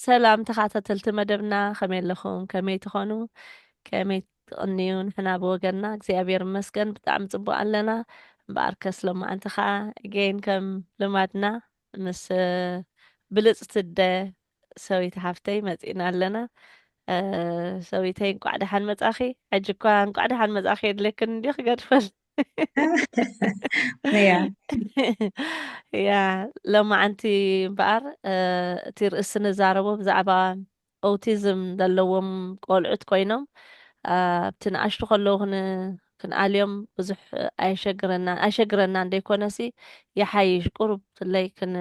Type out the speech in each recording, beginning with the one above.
ሰላም ተኻታተልቲ መደብና ከመይ ኣለኹም ከመይ ትኾኑ ከመይ ትቕንዩ ንሕና ብወገንና እግዚኣብሔር ይመስገን ብጣዕሚ ጽቡቅ ኣለና እምበኣር ከስ ሎማዓንቲ ከዓ ገይን ከም ልማድና ምስ ብልጽቲ እደ ሰዊት ሓፍተይ መጺእና ኣለና ሰዊተይ እንቋዕ ደሓን መጻኺ ሕጂ እኳ እንቋዕ ደሓን መጻኺ የድለክን እንዲ ክገድፈል እያ ሎማዓንቲ እምበኣር እቲ ርእሲ ንዛረቦ ብዛዕባ ኦቲዝም ዘለዎም ቆልዑት ኮይኖም ኣብቲ ንኣሽቱ ከለዉ ክንኣልዮም ብዙሕ ኣይሸግረና ኣይሸግረና እንደይኮነሲ ይሓይሽ ቁሩብ ፍለይ ክን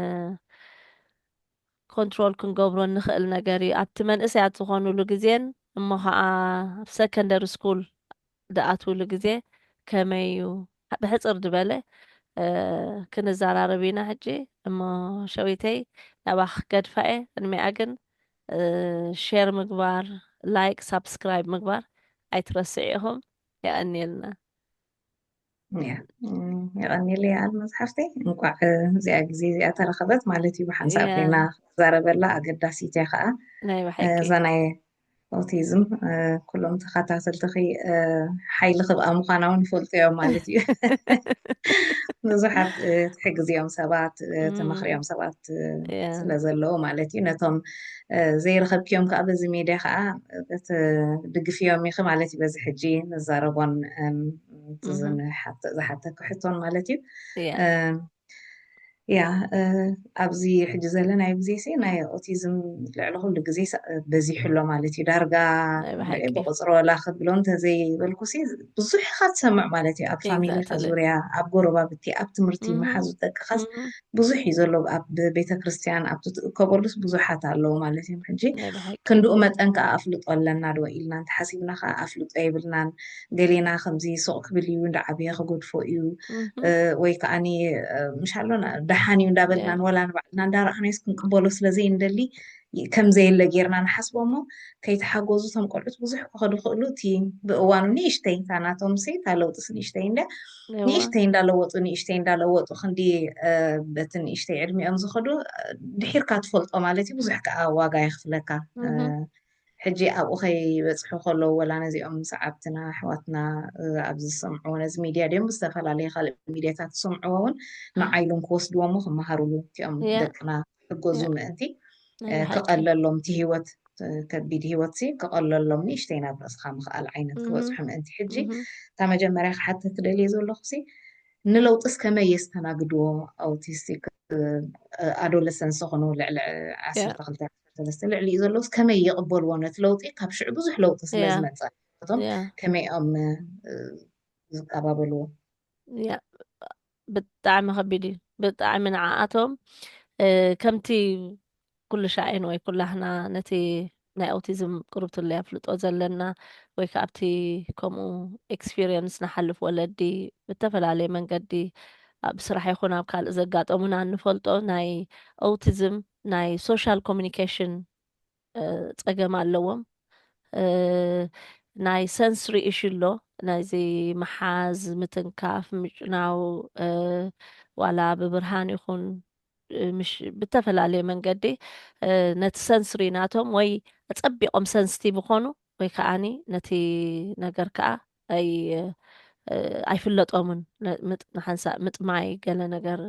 ኮንትሮል ክንገብሮ እንኽእል ነገር እዩ ኣብቲ መንእሰያት ዝኾኑሉ ግዜን እሞ ኸኣ ኣብ ሰከንደሪ ስኩል ድኣትውሉ ግዜ ከመይ እዩ ብሕጽር ድበለ ክንዛራረብ ኢና ሕጂ እሞ ሸዊተይ ናባኺ ክገድፋ እየ ቅድሚኣ ግን ሼር ምግባር ላይክ ሳብስክራይብ ምግባር ኣይትረስዑ ኢኹም የቐንየልና። የቐኒለይ ኣል መፅሓፍተይ እንኳዕ እዚኣ ግዜ እዚኣ ተረኸበት ማለት እዩ ብሓንሳብ ኮይና ክዛረበላ ኣገዳሲት እያ ከዓ እዛ ናይ ኦቲዝም ኩሎም ተኸታተልትኺ ሓይሊ ክብኣ ምዃና እውን ይፈልጡ እዮም ማለት እዩ ብዙሓት ትሕግዝ እዮም ሰባት ተመኽሪኦም ሰባት ስለ ዘለዉ ማለት እዩ ነቶም ዘይረኸብክዮም ከዓ በዚ ሜድያ ከዓ ድግፍዮም ኢኺ ማለት እዩ በዚ ሕጂ ንዛረቦን ዝሓተኩ ሕቶን ማለት እዩ ያ ኣብዚ ሕጂ ዘለናዮ ግዜ ሲ ናይ ኦቲዝም ልዕሊ ኩሉ ግዜ በዚሑ ኣሎ ማለት እዩ ዳርጋ ብቁፅሪ ወላ ክብሎ እንተዘይበልኩ ሲ ብዙሕ ኢካ ትሰምዕ ማለት እዩ ኣብ ፋሚሊካ ዙርያ ኣብ ጎረባብቲ ኣብ ትምህርቲ መሓዙ ደቅካስ ብዙሕ እዩ ዘሎ ኣብ ቤተክርስትያን ኣብቲ ትእከበሉስ ብዙሓት ኣለዉ ማለት እዮም ሕጂ ክንድኡ መጠን ከዓ ኣፍልጦ ኣለና ዶ ኢልና እንተሓሲብና ከዓ ኣፍልጦ የብልናን ገሌና ከምዚ ሱቅ ክብል እዩ እንዳዓበየ ክገድፎ እዩ ወይ ከዓ ምሻሎና ደሓን እዩ እንዳበልናን ወላ ንባዕልና እንዳረኣናዮስ ክንቅበሎ ስለዘይንደሊ ከምዘየለ ጌርና ንሓስቦ እሞ ከይተሓጎዙ እቶም ቆልዑት ብዙሕ ክኸዱ ክእሉ እቲ ብእዋኑ ንእሽተይ እታ ናቶም ሲ እታ ለውጥስ ንእሽተይ እንደ ንእሽተይ እንዳለወጡ ንእሽተይ እንዳለወጡ ክንዲ በቲ ንእሽተይ ዕድሚኦም ዝኸዱ ድሒርካ ትፈልጦ ማለት እዩ ብዙሕ ከዓ ዋጋ የኽፍለካ ሕጂ ኣብኡ ከይበፅሑ ከለዉ ወላ ነዚኦም ሰዓብትና ኣሕዋትና ኣብዚ ዝሰምዕዎ ነዚ ሚድያ ድዮም ብዝተፈላለዩ ካልእ ሚድያታት ዝሰምዕዎ እውን ንዓይሎም ክወስድዎሞ ክመሃሩሉ እቲኦም ደቅና ክሕገዙ ምእንቲ ክቐለሎም እቲ ህይወት ከቢድ ህይወት ሲ ክቐለሎም ንእሽተይ ናብ ርእስኻ ምኽኣል ዓይነት ክበፅሑ ምእንቲ ሕጂ እታ መጀመርያ ክሓትት ክደልየ ዘለኹ ሲ ንለውጥስ ከመይ የስተናግድዎ ኣውቲስቲክ ኣዶለሰንስ ዝኾኑ ልዕሊ ዓሰርተ ክልተ ሰለስተ ልዕሊ እዩ ዘለውስ ከመይ ይቕበልዎ ነቲ ለውጢ ካብ ሽዑ ብዙሕ ለውጢ ስለ ዝመፀ እቶም ከመይ ኦም ዝቀባበልዎ ብጣዕሚ ከቢድ እዩ ብጣዕሚ ንዓኣቶም ከምቲ ኩሉ ሻይን ወይ ኩላህና ነቲ ናይ ኦቲዝም ቅርብትለ ኣፍልጦ ዘለና ወይ ከዓ ኣብቲ ከምኡ ኤክስፒሪየንስ ንሓልፍ ወለዲ ብተፈላለየ መንገዲ ኣብ ስራሕ ይኹን ኣብ ካልእ ዘጋጠሙና እንፈልጦ ናይ ኦቲዝም ናይ ሶሻል ኮሚኒኬሽን ፀገም ኣለዎም ናይ ሰንስሪ እሹ ኣሎ ናይዚ መሓዝ ምትንካፍ ምጭናው ዋላ ብብርሃን ይኹን ብተፈላለየ መንገዲ ነቲ ሰንስሪ ናቶም ወይ ኣፀቢቆም ሰንስቲቭ ይኾኑ ወይ ከዓኒ ነቲ ነገር ከዓ ኣይፍለጦምን ንሓንሳእ ምጥማይ ገለ ነገር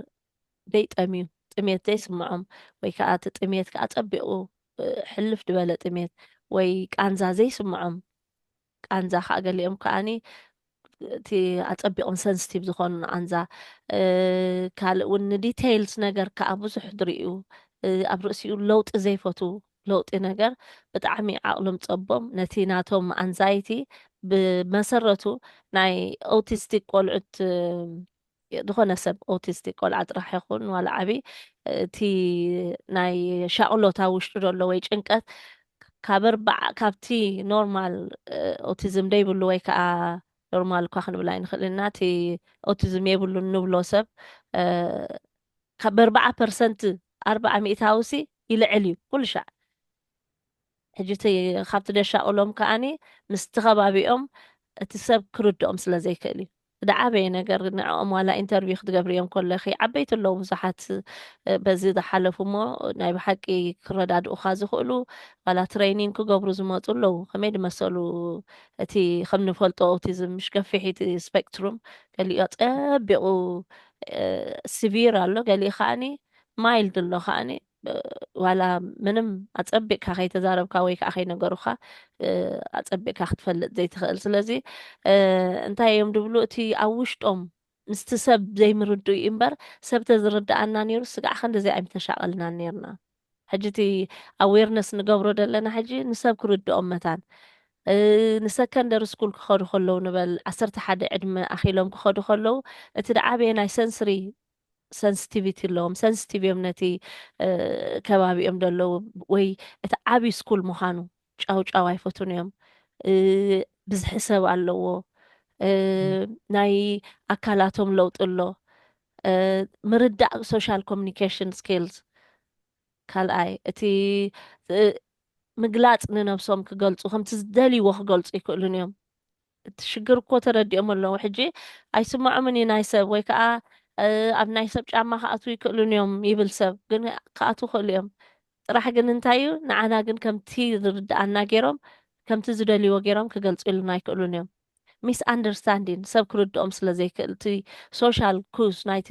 ዘይጠምዩ፣ ጥሜት ዘይስምዖም፣ ወይ ከኣ እቲ ጥሜት ከኣ ጸቢቑ ሕልፍ ድበለ ጥሜት ወይ ቃንዛ ዘይስምዖም፣ ቃንዛ ከኣ ገሊኦም ከኣኒ እቲ ኣጸቢቕም ሰንስቲቭ ዝኾኑ ንቓንዛ፣ ካልእ ውን ንዲተይልስ ነገር ከኣ ብዙሕ ድርእዩ፣ ኣብ ርእሲኡ ለውጢ ዘይፈትዉ፣ ለውጢ ነገር ብጣዕሚ ዓቕሎም ጸቦም፣ ነቲ ናቶም ኣንዛይቲ ብመሰረቱ ናይ ኦውቲስቲክ ቆልዑት ዝኾነ ሰብ ኦቲስቲክ ቆልዓ ጥራሕ ይኹን ዋላ ዓብዪ እቲ ናይ ሻቕሎት ኣብ ውሽጡ ዘሎ ወይ ጭንቀት ካብ ኣርባዓ ካብቲ ኖርማል ኦቲዝም ደይብሉ ወይ ከዓ ኖርማል እኳ ክንብል ኣይንኽእል ኢና እቲ ኦቲዝም የብሉን ንብሎ ሰብ ካብ ኣርባዓ ፐርሰንት ኣርባዓ ሚእታዊ ሲ ይልዕል እዩ ኩሉ ሻዕ ሕጂ እቲ ካብቲ ደሻቕሎም ከኣ ምስቲ ከባቢኦም እቲ ሰብ ክርድኦም ስለ ዘይክእል እዩ። ዝዓበየ ነገር ንዕኦም ዋላ ኢንተርቪው ክትገብርዮም ከለኺ ዓበይቲ ኣለዉ ብዙሓት በዚ ዝሓለፉ እሞ ናይ ብሓቂ ክረዳድኡኻ ዝኽእሉ ዋላ ትረይኒንግ ክገብሩ ዝመጹ ኣለዉ ከመይ ዝመሰሉ እቲ ከም ንፈልጦ ኦቲዝም ምሽ ገፊሕ እቲ ስፔክትሩም ገሊኡ ጸቢቑ ሲቪር ኣሎ ገሊኡ ከኣ ማይልድ ኣሎ ከኣ ዋላ ምንም ኣጸቢቕካ ከይተዛረብካ ወይ ከዓ ከይነገሩኻ ኣጸቢቕካ ክትፈልጥ ዘይትኽእል ስለዚ እንታይ እዮም ድብሉ እቲ ኣብ ውሽጦም ምስቲ ሰብ ዘይምርድኡ እዩ እምበር ሰብ ተዝርድኣና ነይሩ ስጋዕ ክንዲዘይ ኣይምተሻቐልናን ነርና ሕጂ እቲ ኣዌርነስ ንገብሮ ዘለና ሕጂ ንሰብ ክርድኦም መታን ንሰከንደሪ ስኩል ክኸዱ ከለዉ ንበል ዓሰርተ ሓደ ዕድመ ኣኺሎም ክኸዱ ከለዉ እቲ ደዓበየ ናይ ሰንስሪ ሰንስቲቪቲ ኣለዎም ሰንስቲቭ እዮም ነቲ ከባቢኦም ደለዉ ወይ እቲ ዓብዪ ስኩል ምዃኑ ጫው ጫው ኣይፈቱን እዮም ብዝሒ ሰብ ኣለዎ ናይ ኣካላቶም ለውጢ ኣሎ ምርዳእ ሶሻል ኮሚኒኬሽን ስኪልስ ካልኣይ እቲ ምግላፅ ንነብሶም ክገልፁ ከምቲ ዝደልይዎ ክገልፁ ይክእሉን እዮም እቲ ሽግር እኮ ተረዲኦም ኣለዉ ሕጂ ኣይስምዖምን እዩ ናይ ሰብ ወይ ከዓ ኣብ ናይ ሰብ ጫማ ክኣትዉ ይክእሉን እዮም ይብል ሰብ ግን ክኣትዉ ይክእሉ እዮም ጥራሕ ግን እንታይ እዩ ንዓና ግን ከምቲ ዝርድኣና ገይሮም ከምቲ ዝደልይዎ ገይሮም ክገልፅሉና ኣይክእሉን እዮም ሚስ ኣንደርስታንዲን ሰብ ክርድኦም ስለ ዘይክእል እቲ ሶሻል ኩስ ናይቲ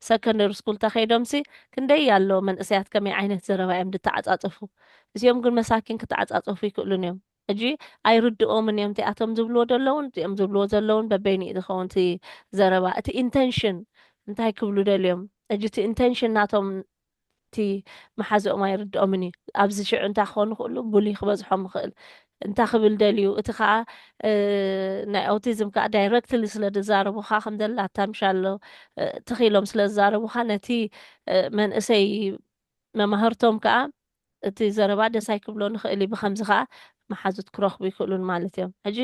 ሰከንደሪ ስኩል ተኸይዶምሲ ክንደይ ኣሎ መንእሰያት ከመይ ዓይነት ዘረባ እዮም ድተዓፃፀፉ እዚኦም ግን መሳኪን ክተዓፃፀፉ ይክእሉን እዮም ሕጂ ኣይርድኦምን እዮም እቲ ኣቶም ዝብልዎ ዘለዉን እዚኦም ዝብልዎ ዘለዉን በበይኑ እዩ ዝኸውን እቲ ዘረባ እቲ ኢንተንሽን እንታይ ክብሉ ደልዮም ሕጂ እቲ ኢንተንሽን ናቶም እቲ መሓዝኦም ኣይርድኦምን እዩ ኣብዚ ሽዑ እንታይ ክኾኑ ክእሉ ቡሊ ክበዝሖም ይኽእል እንታይ ክብል ደልዩ እቲ ከዓ ናይ ኣውቲዝም ከዓ ዳይረክትሊ ስለ ዝዛረቡካ ከም ዘላታ ምሻሎ ትኺሎም ስለ ዝዛረቡካ ነቲ መንእሰይ መማህርቶም ከዓ እቲ ዘረባ ደስ ኣይክብሎን ይኽእል እዩ ብኸምዚ ከኣ መሓዙት ክረኽቡ ይክእሉን ማለት እዮም ሕጂ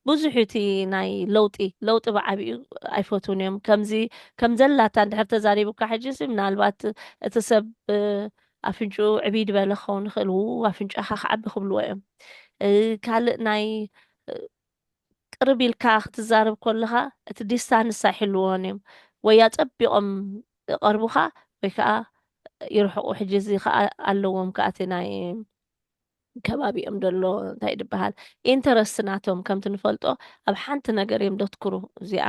ብዙሕ እዩ እቲ ናይ ለውጢ ለውጢ ብዓቢኡ ኣይፈትዉን እዮም ከምዚ ከም ዘላታ እንድሕር ተዛሪቡካ ሕጂሲ ምናልባት እቲ ሰብ ኣፍንጭኡ ዕብይ ድበለ ክኸውን ይኽእል ው ኣፍንጫኻ ክዓቢ ክብልዎ እዮም ካልእ ናይ ቅርብ ኢልካ ክትዛረብ ከለኻ እቲ ዲስታንስ ኣይሕልዎን እዮም ወይ ኣጸቢቖም ይቀርቡካ ወይ ከኣ ይርሕቁ ሕጂ እዚ ከኣ ኣለዎም ከኣ እቲ ናይ ከባቢኦም ደሎ እንታይ ድበሃል ኢንተረስት ናቶም ከምቲ ንፈልጦ ኣብ ሓንቲ ነገር እዮም ደትኩሩ እዚኣ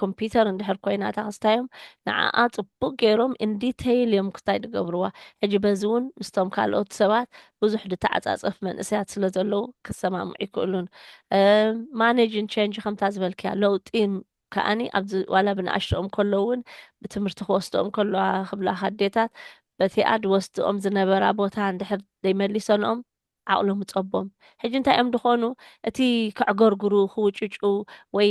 ኮምፒተር እንድሕር ኮይና እታ ክስታዮም ንዓኣ ጽቡቅ ገይሮም ኢንዲተይል እዮም ክስታይ ድገብርዋ ሕጂ በዚ እውን ምስቶም ካልኦት ሰባት ብዙሕ ድተዓጻጸፍ መንእሰያት ስለ ዘለዉ ክሰማምዑ ይክእሉን ማኔጅን ቸንጅ ከምታ ዝበልክያ ለውጢ ከኣኒ ኣብዚ ዋላ ብንኣሽትኦም ከለዉ ውን ብትምህርቲ ክወስድኦም ከለዋ ክብላካ ኣዴታት በቲኣ ድወስድኦም ዝነበራ ቦታ እንድሕር ደይመሊሰንኦም ዓቕሎም እጸቦም ሕጂ እንታይ እዮም ድኾኑ እቲ ከዕገርግሩ ክውጭጩ ወይ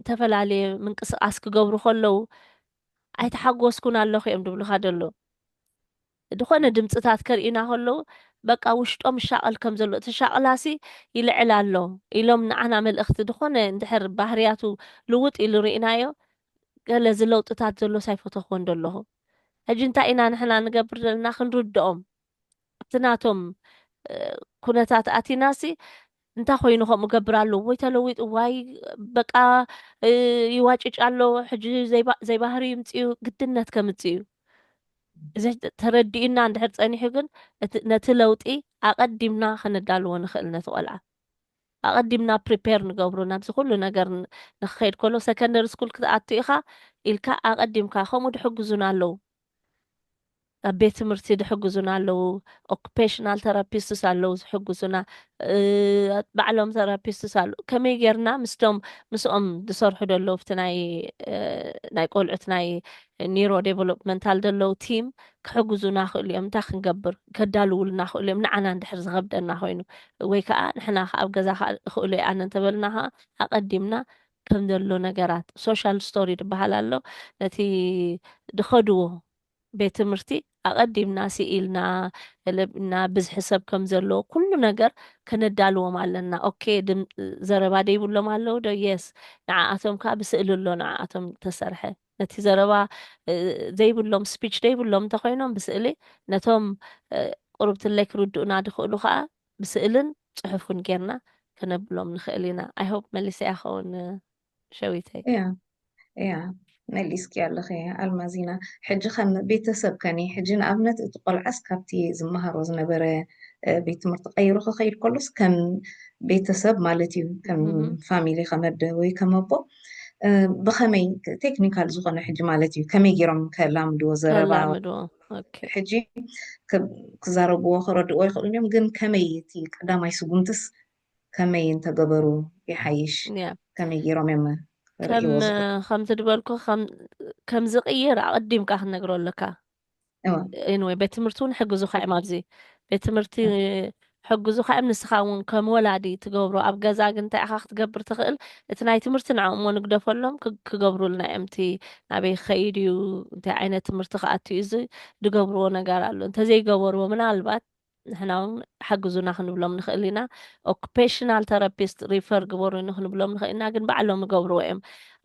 ተፈላለየ ምንቅስቓስ ክገብሩ ከለዉ ኣይተሓጎስኩን ኣለኹ እዮም ድብሉካ ደለዉ። ድኾነ ድምጽታት ከርእዩና ከለዉ በቃ ውሽጦም ይሻቐል ከም ዘሎ እቲ ሻቕላሲ ይልዕል ኣሎ ኢሎም ንዓና መልእኽቲ ድኾነ እንድሕር ባህርያቱ ልውጥ ኢሉ ርኢናዮ ገለ እዚ ለውጥታት ዘሎስ ኣይፈተኹዎን ደለኹ ሕጂ እንታይ ኢና ንሕና ንገብር ዘለና ክንርድኦም ኣብቲ ናቶም ኩነታት ኣቲናሲ እንታይ ኮይኑ ከምኡ ገብር ኣሎ ወይ ተለዊጡ ዋይ በቃ ይዋጭጭ ኣሎ ሕጂ ዘይባህሪ ይምፅኡ ግድነት ከምፅእ እዩ እዚ ተረዲኡና እንድሕር ፀኒሑ ግን ነቲ ለውጢ ኣቐዲምና ከነዳልዎ ንኽእል ነቲ ቆልዓ ኣቐዲምና ፕሪፔር ንገብሩ ናብዚ ኩሉ ነገር ንክኸይድ ከሎ ሰከንደሪ ስኩል ክትኣቱ ኢኻ ኢልካ ኣቐዲምካ ከምኡ ድሕግዙና ኣለዉ ኣብ ቤት ትምህርቲ ድሕግዙና ኣለዉ ኦኩፔሽናል ተራፒስትስ ኣለዉ ዝሕግዙና ባዕሎም ተራፒስትስ ኣለዉ ከመይ ጌርና ምስቶም ምስኦም ዝሰርሑ ዘለዉ ኣብቲ ናይ ናይ ቆልዑት ናይ ኒሮ ዴቨሎፕመንታል ዘለዉ ቲም ክሕግዙና ክእሉ እዮም እንታይ ክንገብር ከዳልውልና ክእሉ እዮም ንዓና እንድሕር ዝኸብደና ኮይኑ ወይ ከዓ ንሕና ከዓ ኣብ ገዛ ክእሉ ይኣነ እንተበልና ከዓ ኣቐዲምና ከም ዘሎ ነገራት ሶሻል ስቶሪ ዝበሃል ኣሎ ነቲ ድኸድዎ ቤት ትምህርቲ ኣቐዲምና ስኢልና እና ብዝሒ ሰብ ከም ዘለዎ ኩሉ ነገር ከነዳልዎም ኣለና ኦኬ ዘረባ ደይብሎም ኣለዉ ዶ የስ ንዓኣቶም ከዓ ብስእሊ ኣሎ ንዓኣቶም ተሰርሐ ነቲ ዘረባ ዘይብሎም ስፒች ደይብሎም እንተኮይኖም ብስእሊ ነቶም ቁርብትለይ ክርድኡና ድኽእሉ ከዓ ብስእልን ፅሑፍን ጌርና ከነብሎም ንኽእል ኢና ኣይሆፕ መሊሰ ያኸውን ሸዊተይ እያ እያ መሊስኪ ኣለኺ ኣልማዚና ሕጂ ከም ቤተሰብ ከኒ ሕጂ ንኣብነት እቲ ቆልዓስ ካብቲ ዝመሃሮ ዝነበረ ቤት ትምህርቲ ቀይሩ ክኸይድ ከሎስ ከም ቤተሰብ ማለት እዩ ከም ፋሚሊ ከመደ ወይ ከመቦ ብከመይ ቴክኒካል ዝኾነ ሕጂ ማለት እዩ ከመይ ገይሮም ከላምድዎ ዘረባ ሕጂ ክዛረብዎ ክረድእዎ ይኽእሉ እዮም ግን ከመይ እቲ ቀዳማይ ስጉምትስ ከመይ እንተገበሩ ይሓይሽ ከመይ ጌሮም እዮም ከምዚ ድበልኩ ከም ዝቅይር ኣቀዲምካ ክንነግሮ ኣለካ ወይ ቤት ትምህርቲ እውን ሕግዙካ እዮም ኣብዚ ቤት ትምህርቲ ሕግዙካ እዮም ንስኻ እውን ከም ወላዲ ትገብሮ ኣብ ገዛ ግን እንታይ ኢኻ ክትገብር ትኽእል እቲ ናይ ትምህርቲ ንዕኦም እሞ ንግደፈሎም ክገብሩልና እዮም እቲ ናበይ ክኸይድ እዩ እንታይ ዓይነት ትምህርቲ ክኣትዩ እዚ ዝገብርዎ ነገር ኣሎ እንተዘይገበርዎ ምናልባት ንሕና ውን ሓግዙና ክንብሎም ንኽእል ኢና ኦኩፔሽናል ተረፒስት ሪፈር ግበሩኒ ክንብሎም ንኽእል ኢና ግን ባዕሎም ይገብርዎ እዮም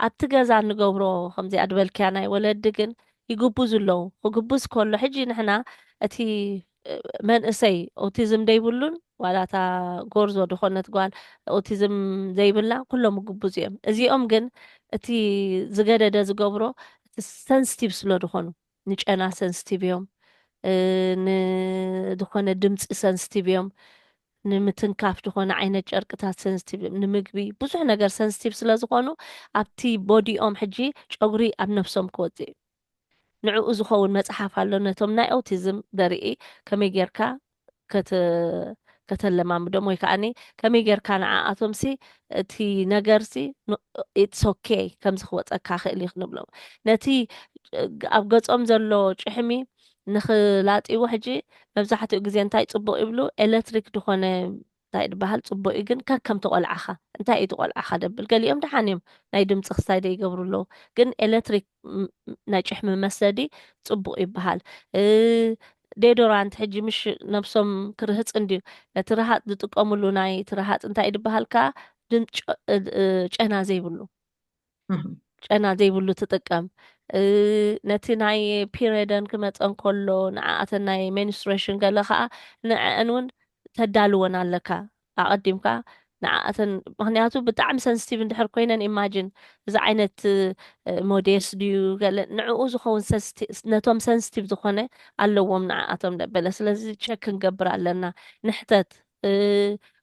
ኣብቲ ገዛ ንገብሮ ከምዚኣ ድበልክያ ናይ ወለዲ ግን ይግቡዙ ኣለዉ ክግቡዝ ከሎ ሕጂ ንሕና እቲ መንእሰይ ኦቲዝም ደይብሉን ዋላ እታ ጎርዞ ድኾነት ጓል ኦቲዝም ዘይብላ ኩሎም ይግቡዙ እዮም እዚኦም ግን እቲ ዝገደደ ዝገብሮ እቲ ሰንስቲቭ ስለ ድኾኑ ንጨና ሰንስቲቭ እዮም፣ ንዝኾነ ድምጺ ሰንስቲቭ እዮም፣ ንምትንካፍ ዝኾነ ዓይነት ጨርቅታት ሰንስቲቭ እዮም፣ ንምግቢ ብዙሕ ነገር ሰንስቲቭ ስለ ዝኾኑ ኣብቲ ቦዲኦም ሕጂ ጨጉሪ ኣብ ነብሶም ክወጽእ እዩ። ንዕኡ ዝኸውን መጽሓፍ ኣሎ ነቶም ናይ ኦቲዝም ዘርኢ ከመይ ጌርካ ከተለማምዶም ወይ ከዓኒ ከመይ ጌርካ ንዓኣቶምሲ እቲ ነገርሲ ኢትስ ኦኬ ከምዚ ክወፀካ ክእል እዩ ክንብሎም ነቲ ኣብ ገፆም ዘሎ ጭሕሚ ንክላጥይዎ ሕጂ መብዛሕትኡ ግዜ እንታይ ፅቡቅ ይብሉ ኤሌክትሪክ ድኾነ እንታይ ድበሃል ጽቡቅ እዩ ግን ከከም ተቆልዓካ እንታይ እዩ ትቆልዓካ ደብል ገሊኦም ደሓን እዮም ናይ ድምጺ ክስታይ ደይገብሩ ኣለዉ ግን ኤለትሪክ ናይ ጭሕሚ መስደዲ ጽቡቅ ይበሃል ዴዶራንት ሕጂ ምሽ ነብሶም ክርህጽ እንድዩ ነቲ ረሃጽ ዝጥቀምሉ ናይ ትረሃጽ እንታይ ድበሃል ከኣ ጨና ዘይብሉ ጨና ዘይብሉ ትጥቀም ነቲ ናይ ፒሬደን ክመፀን ከሎ ንዓኣተን ናይ ሜንስትሬሽን ገለ ከዓ ንዐአን እውን ተዳልወን ኣለካ ኣቐዲምካ ንዓኣተን ምክንያቱ ብጣዕሚ ሰንስቲቭ እንድሕር ኮይነን ኢማጂን እዚ ዓይነት ሞዴስ ድዩ ገለ ንዕኡ ዝኸውን ነቶም ሰንስቲቭ ዝኾነ ኣለዎም ንዓኣቶም ደበለ ስለዚ ቸክ ክንገብር ኣለና ንሕተት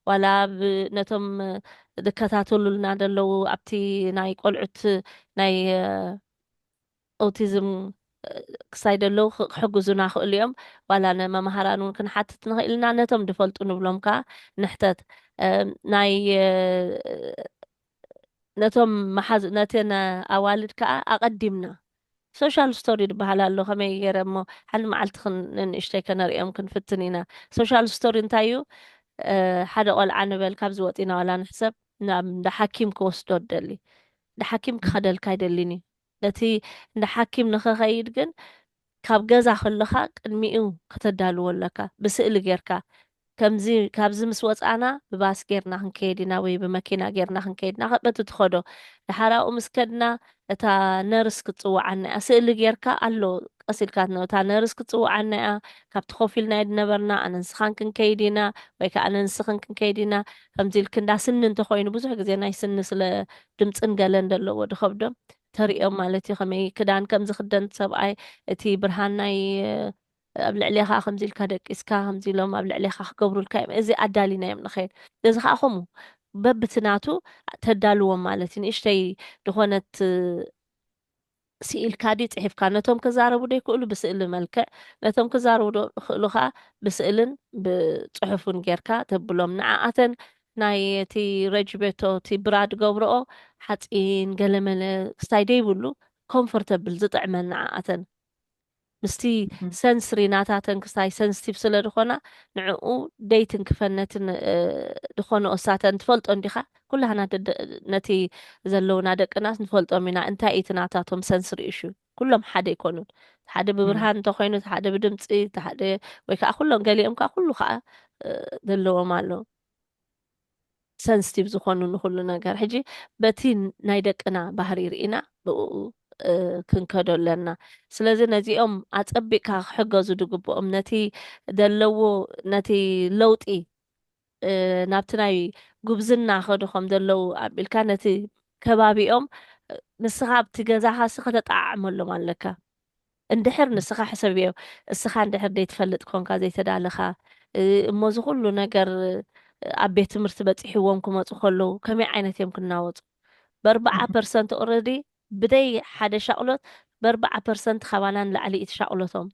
ዋላ ኣብ ነቶም ዝከታተሉልና ዘለዉ ኣብቲ ናይ ቆልዑት ናይ ኦቲዝም ክሳይ ዘለዉ ክሕግዙና ይኽእሉ እዮም ዋላ ንመምሃራን እውን ክንሓትት ንኽእል ኢና ነቶም ዝፈልጡ ንብሎም ከዓ ንሕተት ናይ ነቶም መሓዝ ነተን ኣዋልድ ከዓ ኣቐዲምና ሶሻል ስቶሪ ድበሃል ኣሎ ከመይ ጌረ እሞ ሓንቲ መዓልቲ ክን ንንእሽተይ ከነርእዮም ክንፍትን ኢና ሶሻል ስቶሪ እንታይ እዩ ሓደ ቆልዓ ንበል ካብዚ ወጺና ዋላ ንሕሰብ ናብ እንዳ ሓኪም ክወስዶ ደሊ እንዳ ሓኪም ክኸደልካ ኣይደሊን እዩ ነቲ እንዳ ሓኪም ንኸኸይድ ግን ካብ ገዛ ከለኻ ቅድሚኡ ከተዳልዎ ኣለካ ብስእሊ ጌርካ ከምዚ ካብዚ ምስ ወጻእና ብባስ ጌርና ክንከይድ ኢና ወይ ብመኪና ጌርና ክንከይድ ኢና በቲ ትኸዶ ደሓር ኣብኡ ምስ ከድና እታ ነርስ ክትጽውዓና እያ ስእሊ ጌርካ ኣሎ ቀስ ኢልካ ትነብር እታ ነርስ ክትጽውዓና እያ ካብቲ ኮፍ ኢልና ዝነበርና ኣነ ንስኻን ክንከይድ ኢና ወይ ከዓ ኣነ ንስኽን ክንከይድ ኢና ከምዚ ኢልክ እንዳ ስኒ እንተኾይኑ ብዙሕ ግዜ ናይ ስኒ ስለ ድምፅን ገለን ዘለዎ ድኸብዶም ተርእዮም ማለት እዩ ከመይ ክዳን ከም ዝኽደን ሰብኣይ እቲ ብርሃን ናይ ኣብ ልዕሌኻ ከምዚ ኢልካ ደቂስካ ከምዚ ኢሎም ኣብ ልዕሌኻ ክገብሩልካ እዮም እዚ ኣዳሊናዮም ንኸይድ እዚ ከዓ ከምኡ በብቲ ናቱ ተዳልዎም ማለት እዩ ንእሽተይ ዝኾነት ስኢልካ ድዩ ፅሒፍካ ነቶም ክዛረቡ ዶ ይክእሉ ብስእሊ መልክዕ ነቶም ክዛረቡ ዶ ይክእሉ ከዓ ብስእልን ብፅሑፍን ጌርካ ተብሎም ንዓኣተን ናይ እቲ ረጅቤቶ እቲ ብራድ ገብረኦ ሓፂን ገለመለ ክስታይ ደይብሉ ኮምፎርተብል ዝጥዕመን ንዓኣተን ምስቲ ሰንስሪ ናታተን ክስታይ ሰንስቲቭ ስለ ድኾና ንዕኡ ደይ ትንክፈን ነቲ ድኾንኦ ሳተን ትፈልጦ እንዲኻ ኩላህና ነቲ ዘለውና ደቅናስ ንፈልጦም ኢና እንታይ እዩ እቲ ናታቶም ሰንስሪ እሹ ኩሎም ሓደ ኣይኮኑን ሓደ ብብርሃን እንተኾይኑ ሓደ ብድምፂ ሓደ ወይ ከዓ ኩሎም ገሊኦም ከዓ ኩሉ ከዓ ዘለዎም ኣሎ ሰንስቲቭ ዝኾኑ ንኹሉ ነገር ሕጂ በቲ ናይ ደቅና ባህሪ ርኢና ብእኡ ክንከዶ ኣለና ስለዚ ነዚኦም ኣጸቢቕካ ክሕገዙ ድግብኦም ነቲ ደለዎ ነቲ ለውጢ ናብቲ ናይ ጉብዝና ከዱ ከም ደለዉ ኣቢልካ ነቲ ከባቢኦም ንስኻ ኣብቲ ገዛኻሲ ከተጠዓዕመሎም ኣለካ እንድሕር ንስኻ ሕሰብዮ፣ እስኻ እንድሕር ዘይትፈልጥ ኰንካ፣ ዘይተዳለኻ፣ እሞ እዚ ዅሉ ነገር ኣብ ቤት ትምህርቲ በጺሕዎም ክመጹ ከለዉ ከመይ ዓይነት እዮም ክናወጹ? በርብዓ ፐርሰንት ኦረዲ ብደይ ሓደ ሻቕሎት በርብዓ ፐርሰንት ካባና ንላዕሊ እዩ እቲ ሻቕሎቶም።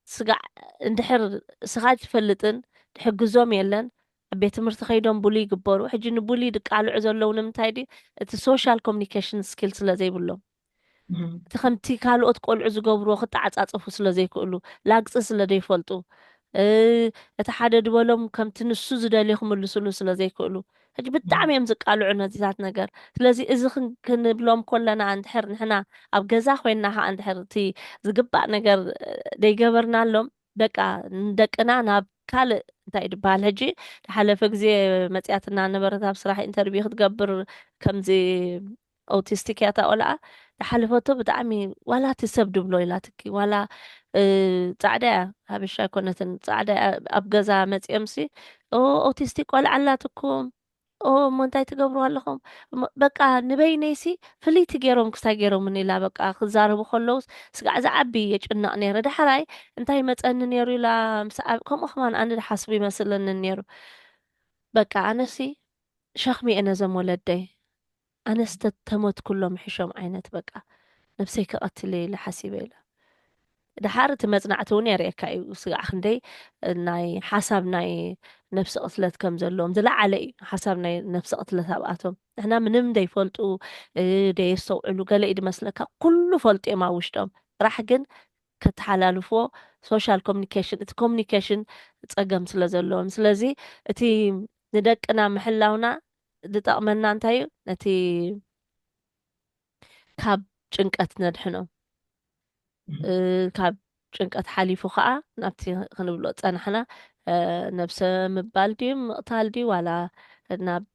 ስጋዕ እንድሕር እስኻ ኣይትፈልጥን ትሕግዞም የለን ኣብ ቤት ትምህርቲ ከይዶም ቡሊ ይግበሩ። ሕጂ ንቡሊ ድቃልዑ ዘለዉ ንምንታይ ድዩ? እቲ ሶሻል ኮሙኒኬሽን ስኪል ስለ ዘይብሎም። እቲ ከምቲ ካልኦት ቆልዑ ዝገብርዎ ክተዓጻጸፉ ስለ ዘይክእሉ፣ ላግጺ ስለ ዘይፈልጡ፣ እቲ ሓደ ዝበሎም ከምቲ ንሱ ዝደልዮ ክምልስሉ ስለ ዘይክእሉ፣ ሕጂ ብጣዕሚ እዮም ዝቃልዑ ነዚታት ነገር። ስለዚ እዚ ክንብሎም ከለና እንድሕር ንሕና ኣብ ገዛ ኮይንና ከኣ እንድሕር እቲ ዝግባእ ነገር ዘይገበርናሎም በቃ ንደቅና ናብ ካልእ እንታይ እዩ ዝበሃል ሕጂ ዝሓለፈ ግዜ መጽያትና ነበረት ኣብ ስራሕ ኢንተርቪው ክትገብር ከምዚ ኦውቲስቲክ እያ እታ ቆልዓ ዝሓለፈቶ ብጣዕሚ ዋላ እቲ ሰብ ድብሎ ኢላትኪ ዋላ ጻዕዳ እያ ሃበሻ ኣይኮነትን ጻዕዳ እያ ኣብ ገዛ መጺኦምሲ ኦ ኦውቲስቲክ ቆልዓ ኣላትኩም ኦ እሞ እንታይ ትገብሩ ኣለኹም እሞ በቃ ንበይነይሲ ፍልይቲ ገይሮም ክስታይ ገይሮምኒ ኢላ በቃ ክዛረቡ ከለውስ ስጋዕ ዝዓቢ የጭነቕ ነይረ ዳሕራይ እንታይ መጸኒ ነይሩ ኢላ ምስ ዓብ ከምኡ ከማን ኣነ ዝሓስቡ ይመስለኒ ነይሩ በቃ ኣነሲ ሸኽሚ እየ ነዞም ወለደይ ኣነስ ተተሞት ኩሎም ሕሾም ዓይነት በቃ ነብሰይ ክቀትል እየ ኢለ ሓሲበ ኢላ ደሓር እቲ መጽናዕቲ እውን የርእየካ እዩ ስጋዕ ክንደይ ናይ ሓሳብ ናይ ነብሲ ቅትለት ከም ዘለዎም ዝለዓለ እዩ ሓሳብ ናይ ነብሲ ቅትለት ኣብኣቶም ንሕና ምንም ደይፈልጡ ደየስተውዕሉ ገለ እዩ ድመስለካ ኩሉ ፈልጡ እዮም ኣብ ውሽጦም ጥራሕ ግን ከተሓላልፍዎ ሶሻል ኮሚኒኬሽን እቲ ኮሚኒኬሽን ፀገም ስለ ዘለዎም ስለዚ እቲ ንደቅና ምሕላውና ዝጠቕመና እንታይ እዩ? ነቲ ካብ ጭንቀት ነድሕኖ ካብ ጭንቀት ሓሊፉ ከዓ ናብቲ ክንብሎ ፀናሕና ነብሰ ምባል ድዩ ምቕታል ድዩ ዋላ ናብ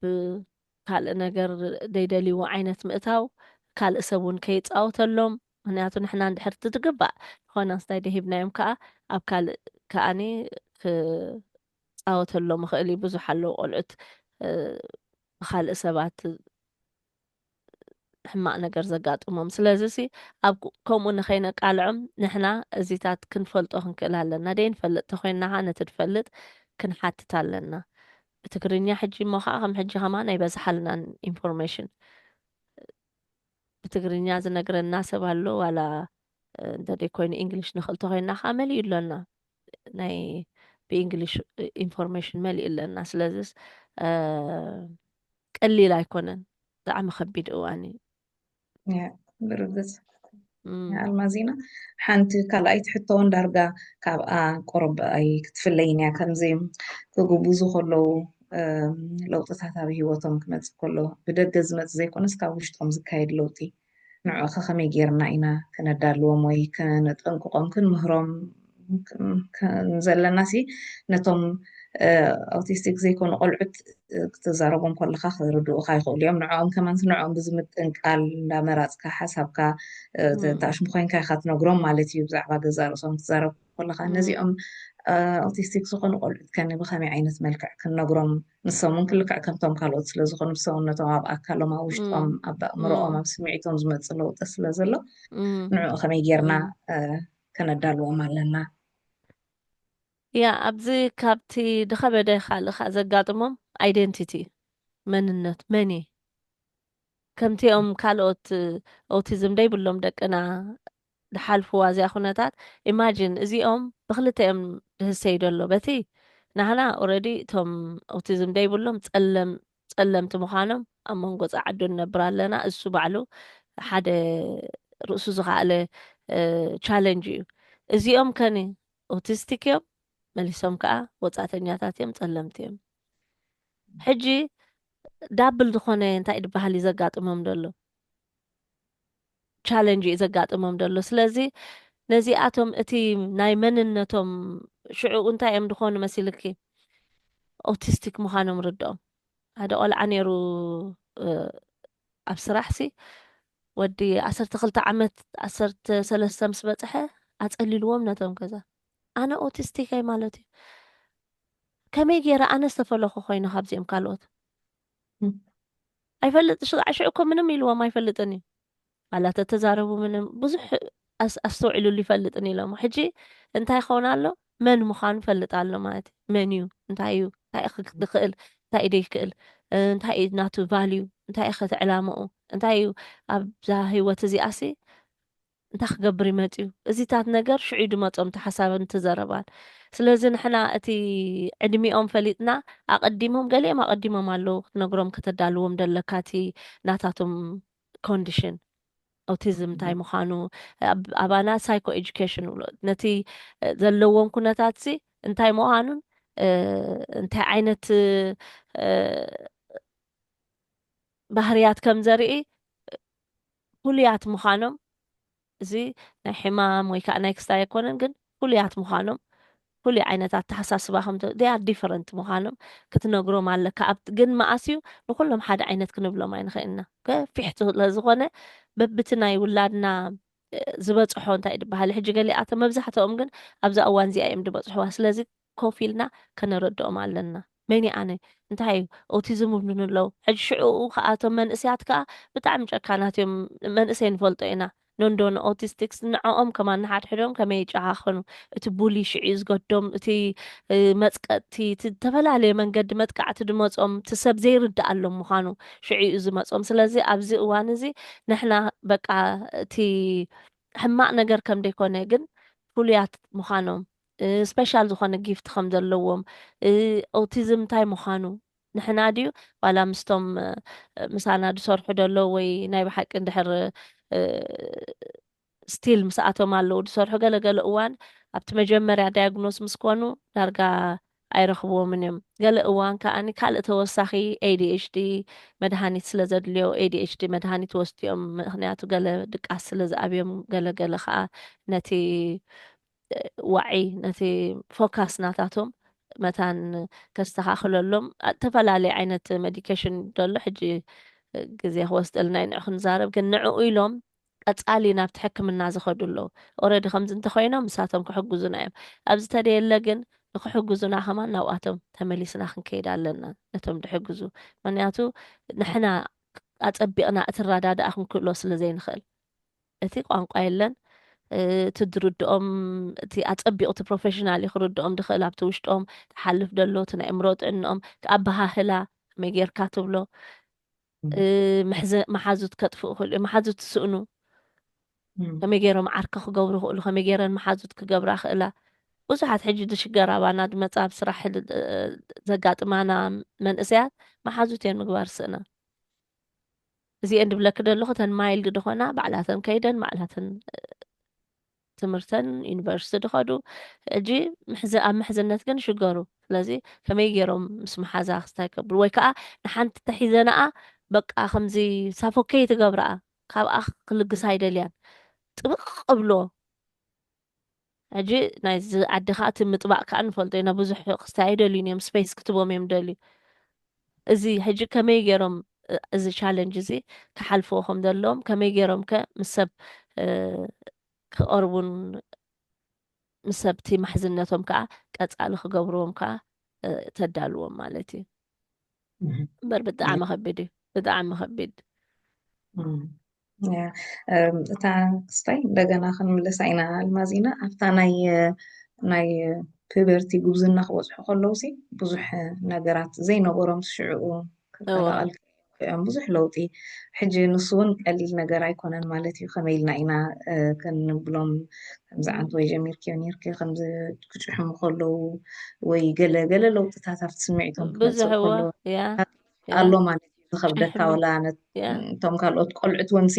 ካልእ ነገር ዘይደልይዎ ዓይነት ምእታው ካልእ ሰብ እውን ከይፃወተሎም ምክንያቱ ንሕና እንድሕር ትግባእ ንኾነ ስታይ ደሂብናዮም ከዓ ኣብ ካልእ ከዓኒ ክጻወተሎም ይኽእል እዩ። ብዙሕ ኣለዉ ቆልዑት ብኻልእ ሰባት ሕማቅ ነገር ዘጋጥሞም ስለዚ ሲ ኣብ ከምኡ ንኸይነቃልዖም ንሕና እዚታት ክንፈልጦ ክንክእል ኣለና ደይንፈልጥ ተኮይንና ከዓ ነቲ ድፈልጥ ክንሓትት ኣለና ብትግርኛ ሕጂ እሞ ከዓ ከም ሕጂ ከማን ኣይበዝሓልናን ኢንፎርሜሽን ብትግርኛ ዝነግረና ሰብ ኣሎ ዋላ እንተደይ ኮይኑ እንግሊሽ ንኽእል ተኮይንና ከዓ መሊኡ ኣሎና ናይ ብእንግሊሽ ኢንፎርሜሽን መሊእ ኣለና ስለዚስ ቀሊል ኣይኮነን ብጣዕሚ ከቢድ እዋን እዩ ብርግፅ ኣልማዚና ሓንቲ ካልኣይቲ ሕቶ እውን ዳርጋ ካብኣ ቆረብ ኣይ ክትፍለይን እያ ከምዚ ክግብዙ ከለዉ ለውጥታት ኣብ ሂወቶም ክመፅእ ከሎ ብደገ ዝመፅ ዘይኮነስ ካብ ውሽጦም ዝካየድ ለውጢ ንዕኡኸ ከመይ ገይርና ኢና ከነዳልዎም ወይ ከነጠንቅቖም ክንምህሮም ዘለናሲ ነቶም ኣውቲስቲክ ዘይኮኑ ቆልዑት ክትዛረቦም ከለኻ ክርድኡኻ ይኽእሉ እዮም ንዕኦም ከማንስ ንዕኦም ብዝምጥን ቃል እንዳመራፅካ ሓሳብካ ተኣሽሙ ኮይንካ ኢኻ ትነግሮም ማለት እዩ ብዛዕባ ገዛ ርእሶም ትዛረብ ኮለኻ ነዚኦም ኣውቲስቲክ ዝኾኑ ቆልዑት ከ ብኸመይ ዓይነት መልክዕ ክንነግሮም ንሶም ውን ክልክዕ ከምቶም ካልኦት ስለ ዝኾኑ ብሰውነቶም ኣብ ኣካሎም ኣብ ውሽጦም ኣብ ኣእምሮኦም ኣብ ስምዒቶም ዝመፅ ለውጢ ስለ ዘሎ ንዕኡ ከመይ ጌርና ከነዳልዎም ኣለና ያ ኣብዚ ካብቲ ድኸበደ ካልእ ከዓ ዘጋጥሞም ኣይደንቲቲ መንነት መን እዩ ከምቲኦም ካልኦት ኦቲዝም ደይብሎም ደቅና ድሓልፍዋ እዚኣ ኩነታት ኢማጂን እዚኦም ብክልተ እዮም ድህሰዩ ደሎ በቲ ናህና ኦረዲ እቶም ኦቲዝም ደይብሎም ጸለም ጸለምቲ ምዃኖም ኣብ መንጎ ጸዓዱ ንነብር ኣለና እሱ ባዕሉ ሓደ ርእሱ ዝኸኣለ ቻለንጅ እዩ እዚኦም ከኒ ኦቲስቲክ እዮም መሊሶም ከኣ ወጻእተኛታት እዮም ጸለምቲ እዮም ሕጂ ዳብል ዝኾነ እንታይ ድበሃል እዩ ዘጋጥሞም ደሎ ቻለንጅ እዩ ዘጋጥሞም ዘሎ ስለዚ ነዚኣቶም እቲ ናይ መንነቶም ሽዑ እንታይ እዮም ድኾኑ መሲልኪ ኦቲስቲክ ምዃኖም ርድኦም ሓደ ቆልዓ ነይሩ ኣብ ስራሕ ሲ ወዲ ዓሰርተ ክልተ ዓመት ዓሰርተ ሰለስተ ምስ በፅሐ ኣፀሊልዎም ነቶም ገዛ ኣነ ኦቲስቲከይ ማለት እዩ ከመይ ገይረ ኣነ ዝተፈለኹ ኮይኑ ካብዚኦም ካልኦት ኣይፈልጥ ሽቓዕ ሽዑ እኮ ምንም ኢልዎም ኣይፈልጥን እዩ ኣላ ተተዛረቡ ምንም ብዙሕ ኣስተውዒሉሉ ይፈልጥን ኢሎሞ ሕጂ እንታይ ይኸውን ኣሎ መን ምዃኑ ፈልጥ ኣሎ ማለት እዩ መን እዩ እንታይ እዩ እንታይ ክክእል እንታይ እዩ ደይክእል እንታይ እዩ ናቱ ቫልዩ እንታይ እዩ ከቲ ዕላምኡ እንታይ እዩ ኣብዛ ህይወት እዚኣሲ እንታይ ክገብር እዩ መጺኡ? እዚታት ነገር ሽዑ እዩ ድመጾም እቲ ሓሳብን እቲ ዘረባን። ስለዚ ንሕና እቲ ዕድሚኦም ፈሊጥና ኣቀዲሞም ገሊኦም ኣቀዲሞም ኣለዉ ክትነግሮም ከተዳልዎም ደለካ እቲ ናታቶም ኮንዲሽን ኦቲዝም እንታይ ምዃኑ ኣብ ኣባና ሳይኮ ኤጁኬሽን ንብሎ ነቲ ዘለዎም ኩነታትሲ እንታይ ምዃኑን እንታይ ዓይነት ባህርያት ከም ዘርኢ ፍሉያት ምዃኖም እዚ ናይ ሕማም ወይ ከኣ ናይ ክስታይ ኣይኮነን ግን ፍሉያት ምዃኖም ፍሉይ ዓይነት ኣተሓሳስባ ከም they are different ምዃኖም ክትነግሮም ኣለካ ኣብ ግን መኣስ እዩ ንኹሎም ሓደ ዓይነት ክንብሎም ኣይንኽእልና ገፊሕ ስለዝኾነ በብቲ ናይ ውላድና ዝበጽሖ እንታይ ድበሃል ሕጂ ገሊኣቶም መብዛሕትኦም ግን ኣብዛ እዋን እዚኣ እዮም ዝበጽሕዋ ስለዚ ኮፍ ኢልና ከነረድኦም ኣለና። መን'የ ኣነ? እንታይ'ዩ ኦቲዝም ይብሉኒ'ለዉ። ሕጂ ሽዕኡ ከኣ እቶም መንእሰያት ከኣ ብጣዕሚ ጨካናት'ዮም። መንእሰይ ንፈልጦ ኢና። ኖንዶ ንኦቲስቲክስ ንዕኦም ከማን ንሓድሕዶም ከመይ ይጨኻኸኑ። እቲ ቡሊ ሽዕ'ዩ ዝገዶም። እቲ መጽቀጥቲ እቲ ዝተፈላለየ መንገዲ መጥቃዕቲ ድመጾም እቲ ሰብ ዘይርድኣሎም ምዃኑ ሽዕ'ዩ ዝመጾም። ስለዚ ኣብዚ እዋን'ዚ ንሕና በቃ እቲ ሕማቕ ነገር ከም ደይኮነ ግን ፍሉያት ምዃኖም ስፐሻል ዝኾነ ጊፍት ከም ዘለዎም ኦቲዝም እንታይ ምዃኑ ንሕና ድዩ ዋላ ምስቶም ምሳና ዝሰርሑ ደሎ ወይ ናይ ብሓቂ እንድሕር ስቲል ምስኣቶም ኣለዉ ዝሰርሑ ገለገለ እዋን ኣብቲ መጀመርያ ዳያግኖስ ምስ ኮኑ ዳርጋ ኣይረኽብዎምን እዮም ገለ እዋን ከዓኒ ካልእ ተወሳኺ ኤዲኤችዲ መድሃኒት ስለ ዘድልዮ ኤዲኤችዲ መድሃኒት ወስድኦም ምክንያቱ ገለ ድቃስ ስለ ዝኣብዮም ገለገለ ከዓ ነቲ ዋዒ ነቲ ፎካስ ናታቶም መታን ከስተኻኽለሎም እተፈላለየ ዓይነት ሜዲኬሽን ደሎ ሕጂ ግዜ ክወስደልና እዩ ንዑ ክንዛረብ ግን ንዕኡ ኢሎም ቀጻሊ ናብቲ ሕክምና ዝኸዱ ኣለዉ ኦረዲ ከምዚ እንተኮይኖም ንሳቶም ክሕግዙና እዮም ኣብ ዝተደየለ ግን ንክሕግዙና ከማን ናብኣቶም ተመሊስና ክንከይድ ኣለና ነቶም ድሕግዙ ምክንያቱ ንሕና ኣጸቢቕና እትረዳድኣ ክንክእሎ ስለ ዘይንኽእል እቲ ቋንቋ የለን እቲ ድርድኦም እቲ ኣጸቢቑ እቲ ፕሮፌሽናል እዩ ክርድኦም ድኽእል ኣብቲ ውሽጦም ተሓልፍ ደሎ እቲ ናይ እምሮ ጥዕንኦም ኣበሃህላ መይ ጌርካ ትብሎ መሓዙት ከጥፍኡ ክእሉ እዮም መሓዙት ትስእኑ ከመይ ገይሮም ዓርኪ ክገብሩ ክእሉ ከመይ ገይረን መሓዙት ክገብራ ክእላ ብዙሓት ሕጂ ድሽገር ኣባና ድመፃ ብ ስራሕ ዘጋጥማና መንእሰያት መሓዙት እየን ምግባር ስእና እዚኤን ድብለኪ ደለኹ እተን ማይልድ ድኾና ባዕላተን ከይደን ባዕላተን ትምህርተን ዩኒቨርሲቲ ድኸዱ ሕጂ ኣብ ምሕዝነት ግን ሽገሩ ስለዚ ከመይ ገይሮም ምስ መሓዛ ክስታይ ከብሉ ወይ ከዓ ንሓንቲ ተሒዘናኣ በቃ ከምዚ ሳፎከይ ትገብራኣ ካብኣ ክልግሳ ኣይደልያን ጥብቅ ብሎ ሕጂ ናይዚ ዓዲ ከኣ እቲ ምጥባቅ ከኣ ንፈልጦ ኢና ብዙሕ ክስታይ ኣይደልዩን እዮም ስፐይስ ክትቦም እዮም ዝደልዩ እዚ ሕጂ ከመይ ገይሮም እዚ ቻለንጅ እዚ ክሓልፍዎ ከም ዘለዎም ከመይ ገይሮም ከ ምስ ሰብ ክቀርቡን ምስ ሰብቲ ማሕዝነቶም ከኣ ቀጻሊ ክገብርዎም ከኣ ተዳልዎም ማለት እዩ እምበር ብጣዕሚ ከቢድ እዩ ብጣዕሚ ከቢድ እታ ክስታይ እንደገና ክንምለሳ ኢና ኣልማዝ ኢና ኣብታ ናይ ናይ ፒበርቲ ጉብዝና ክበፅሑ ከለውሲ ብዙሕ ነገራት ዘይነበሮም ሽዕኡ ክቀላቀል እዮም ብዙሕ ለውጢ ሕጂ ንሱ እውን ቀሊል ነገር ኣይኮነን ማለት እዩ ከመይ ኢልና ኢና ክንብሎም ከምዚ ዓንት ወይ ጀሚርክዮ ነርክ ከምዚ ክጭሕሙ ከለዉ ወይ ገለ ገለ ለውጥታት ኣብቲ ስምዒቶም ክመፅእ ከሎ ኣሎ ማለት እዩ ዝኸብደካ ወላ እቶም ካልኦት ቆልዑት ወንሲ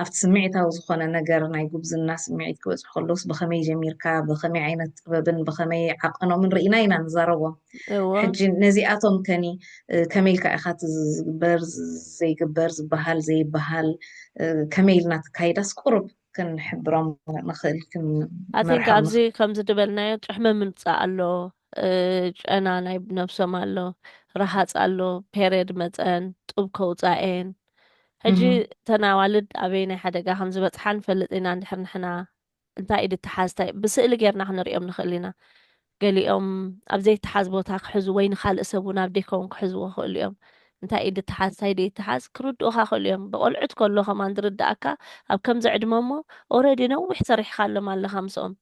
ኣብቲ ስምዒታዊ ዝኾነ ነገር ናይ ጉብዝና ስምዒት ክበፅሑ ከለውስ ብኸመይ ጀሚርካ ብኸመይ ዓይነት ጥበብን ብኸመይ ዓቐኖምን ርኢና ኢና ንዛረቦም ሕጂ ነዚኣቶም ከኒ ከመይ ኢልካ ኢካ እቲ ዝግበር ዘይግበር ዝበሃል ዘይበሃል ከመይ ኢልና ትካይዳስ ቁሩብ ክንሕብሮም ንክእል ኣቲንክ ኣብዚ ከምዚ ድበልናዮ ጭሕሚ ምምፃእ ኣሎ ጨና ናይ ነብሶም ኣሎ ረሃፅ ኣሎ ፔሬድ መፀን ጡብ ከውፃኤን ሕጂ ተናዋልድ ኣበይ ናይ ሓደጋ ከምዝበፅሓ ንፈልጥ ኢና እንድሕር ንሕና እንታይ ኢድ እትሓዝ እንታይ ብስእሊ ጌርና ክንርእዮም ንኽእል ኢና። ገሊኦም ኣብ ዘይተሓዝ ቦታ ክሕዙ ወይ ንኻልእ ሰብ እውን ኣብ ዴከውን ክሕዝዎ ይኽእሉ እዮም። እንታይ ኢድ እትሓዝ እንታይ ደይትሓዝ ክርድኡኻ ይኽእሉ እዮም። ብቆልዑት ከሎ ከማን ዝርድኣካ ኣብ ከምዚ ዕድመ እሞ ኦረዲ ነዊሕ ሰሪሕኻሎም ኣለኻ ምስኦም።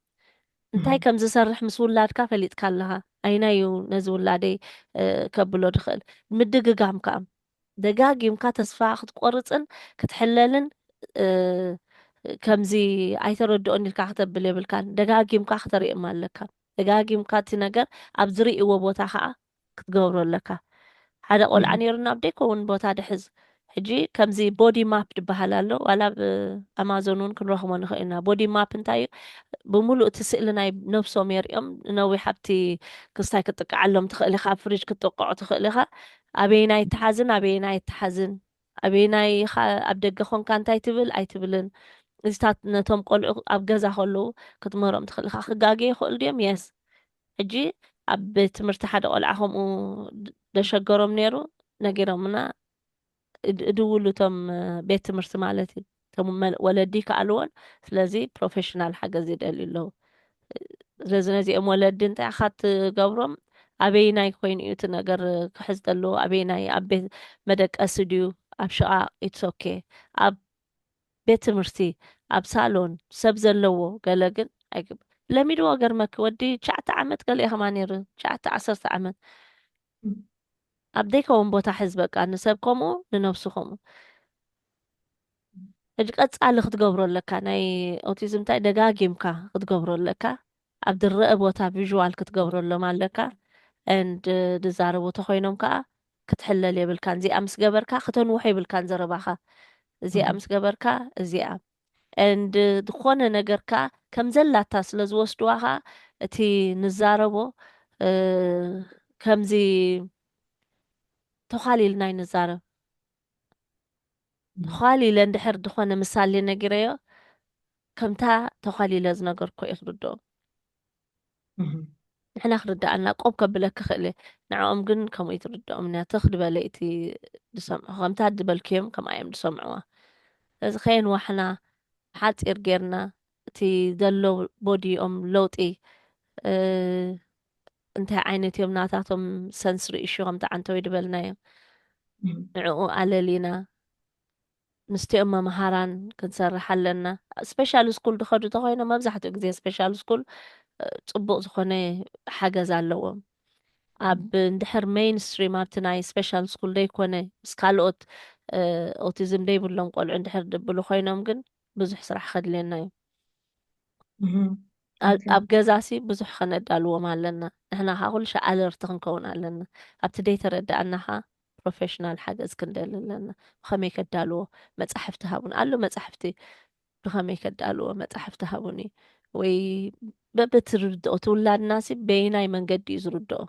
እንታይ ከም ዝሰርሕ ምስ ውላድካ ፈሊጥካ ኣለኻ። ኣይናይ እዩ ነዚ ውላደይ ከብሎ ድኽእል። ምድግጋም ከኣ ደጋጊምካ ተስፋ ክትቆርጽን ክትሕለልን ከምዚ ኣይተረድኦን ኢልካ ክተብል የብልካን ደጋጊምካ ክተርእም ኣለካ ደጋጊምካ እቲ ነገር ኣብ ዝርእዎ ቦታ ከኣ ክትገብሮ ኣለካ ሓደ ቆልዓ ነይሩና ኣብ ደይከውን ቦታ ድሕዝ ሕጂ ከምዚ ቦዲ ማፕ ድበሃል ኣሎ ዋላ ኣብ ኣማዞን እውን ክንረኽቦ ንኽእል ኢና ቦዲ ማፕ እንታይ እዩ ብምሉእ እቲ ስእሊ ናይ ነብሶም የርእዮም ነዊሕ ኣብቲ ክስታይ ክትጥቅዓሎም ትኽእል ኢኻ ኣብ ፍሪጅ ክትጥቅዖ ትኽእል ኢኻ ኣበየናይ ትሓዝን ኣበየናይ ኣይትሓዝን ኣበየናይ ኢኻ ኣብ ደገ ኾንካ እንታይ ትብል ኣይትብልን እዚታት ነቶም ቆልዑ ኣብ ገዛ ከለዉ ክትምህሮም ትኽእል ኢኻ ክጋገ ይኽእሉ ድዮም የስ ሕጂ ኣብ ቤት ትምህርቲ ሓደ ቆልዓ ከምኡ ደሸገሮም ነይሩ ነጊሮምና እድውሉ እቶም ቤት ትምህርቲ ማለት እዩ እቶም ወለዲ ይከኣልዎን ስለዚ ፕሮፌሽናል ሓገዝ ይደልዩ ኣለዉ ስለዚ ነዚኦም ወለዲ እንታይ ኢኻ እትገብሮም ኣበይናይ ኮይኑ እዩ እቲ ነገር ክሕዝ ዘለዎ ኣበይናይ ኣብ ቤት መደቀሲ ድዩ ኣብ ሽቓቕ ኢትስ ኦኬ ኣብ ቤት ትምህርቲ ኣብ ሳሎን ሰብ ዘለዎ ገለ ግን ኣይግብ ለሚድዎ ገርመኪ ወዲ ትሽዓተ ዓመት ገለ ኢኸማ ነይሩ ትሽዓተ ዓሰርተ ዓመት ኣብ ዘይከውን ቦታ ሕዝ በቃ ንሰብ ከምኡ ንነብሱ ከምኡ ሕጂ ቀጻሊ ክትገብሮ ኣለካ ናይ ኦቲዝም እንታይ ደጋጊምካ ክትገብሮ ኣለካ ኣብ ድረእ ቦታ ቪዥዋል ክትገብረሎም ኣለካ and ድዛረቡ ተኮይኖም ከኣ ክትሕለል የብልካን እዚኣ ምስ ገበርካ ክተንውሖ የብልካን ዘረባካ እዚኣ ምስ ገበርካ እዚኣ and ዝኾነ ነገር ከኣ ከም ዘላታ ስለ ዝወስድዋ ከኣ እቲ ንዛረቦ ከምዚ ተዃሊልና ይንዛረብ ተዃሊለ እንድሕር ዝኾነ ምሳሌ ነጊረዮ ከምታ ተዃሊለ ዝነገርኩ እየ ክርድኦ ንሕና ክርድኣና ቆብ ከብለክ ክኽእል እየ ንዕኦም ግን ከምኡ ትርድኦም እያ ትኽ ድበለ እቲ ዝሰምዑ ከምታ ድበልክዮም ከምኣ እዮም ዝሰምዑዋ እዚ ከየንዋሕና ሓፂር ጌርና እቲ ዘሎ ቦዲኦም ለውጢ እንታይ ዓይነት እዮም ናታቶም ሰንስሪ ኢሹ ከምቲ ዓንተወይ ድበልናዮ ንዕኡ ኣለሊና ምስቲኦም መምሃራን ክንሰርሕ ኣለና ስፔሻል ስኩል ድኸዱ ተኮይኖም መብዛሕትኡ ግዜ ስፔሻል ስኩል ፅቡቅ ዝኾነ ሓገዝ ኣለዎም ኣብ እንድሕር ሜይን ስትሪም ኣብቲ ናይ ስፔሻል ስኩል ዘይኮነ ምስ ካልኦት ኦቲዝም ዘይብሎም ቆልዑ እንድሕር ድብሉ ኮይኖም ግን ብዙሕ ስራሕ ከድልየና እዩ ኣብ ገዛሲ ብዙሕ ከነዳልዎም ኣለና ንሕና ከዓ ኩሉ ሻዕ ኣለርቲ ክንከውን ኣለና ኣብቲ ደይተረዳእና ከዓ ፕሮፌሽናል ሓገዝ ክንደሊ ኣለና ብከመይ ከዳልዎ መፃሕፍቲ ሃቡን ኣሎ መፃሕፍቲ ብከመይ ከዳልዎ መፃሕፍቲ ሃቡኒ ወይ በብትርድኦ ትውላድናሲ በይናይ መንገዲ እዩ ዝርድኦ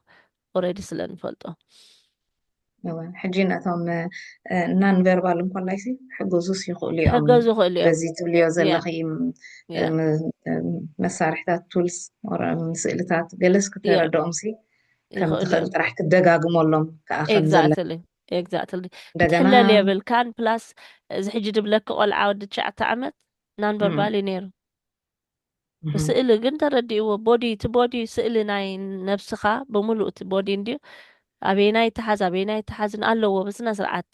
ኦረዲ ስለ ንፈልጦ። እወ ሕጂ ነቶም ናን ቨርባል እንኮላይሲ ሕገዙስ ይኽእሉ እዮም ሕገዙ ይኽእሉ እዮም በዚ ትብልዮ ዘለኺ መሳርሕታት ቱልስ ስእልታት ገለስ ክተረድኦምሲ ከም ትኽእል ጥራሕ ክደጋግመሎም ከዓ ከምዘለ ኤግዛክትሊ ክትሕለል የብልካን ፕላስ እዚ ሕጂ ድብለኪ ቆልዓ ወዲ ትሽዓተ ዓመት ናን ቨርባል እዩ ነይሩ ብስእሊ ግን ተረዲእዎ ቦዲ እቲ ቦዲ ስእሊ ናይ ነብስኻ ብምሉእ እቲ ቦዲ እንድዩ ኣበየናይ ትሓዝ ኣበየናይ ትሓዝ ኣለዎ ብስነ ስርዓት